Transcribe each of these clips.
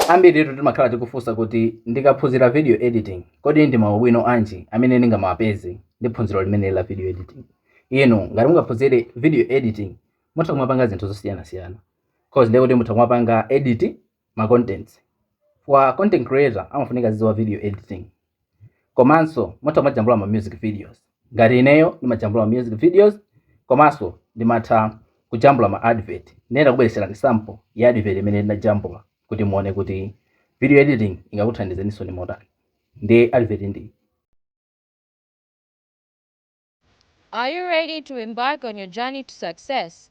Ambiritu timakhala tikufunsa kuti, Ndikaphunzira video editing, kodi ndi maubwino anji amene ndingamapeze ndi phunziro limene la video editing? Inu ngati mungaphunzire video editing, mutha kumapanga zinthu zosiyanasiyana cause ndiye kuti mutha kumapanga edit ma contents. Chifukwa content creator amafunika azidziwa video editing. komanso mutha kumajambula ma music videos ngati ineyo ndimajambula ma music videos komanso ndimatha kujambula ma advert nde ndakubweretserani sample ya advert imene ndinajambula kuti muone kuti video editing ingakuthandizeninso motani nde advert ndi Are you ready to embark on your journey to success?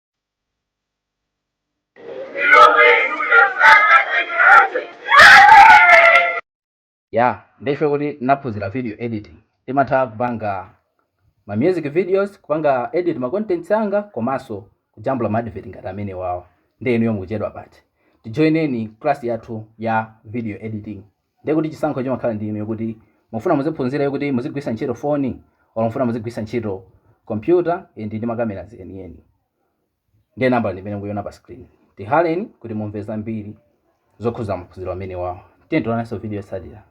ya nde chifukwa choti ndinaphunzira video editing ndimatha kupanga ma music videos kupanga edit ma contents anga komanso kujambula ma advert ngati amenewawo nde inuyo mukuchedwa pati tijoineni class yathu ya video editing Ndiye kuti chisankho chimakhala ndi inuyo kuti mufuna muziphunzira yo kuti muzigwiritsa ntchito phone or mufuna muzigwiritsa ntchito computer ndi macameras eni eni. Ndiye nambala ndi imene mukuiona pa screen. Tihaleni kuti mumve zambiri zokhuza maphunziro amenewawo. Tiyeni tionanenso video yotsatira.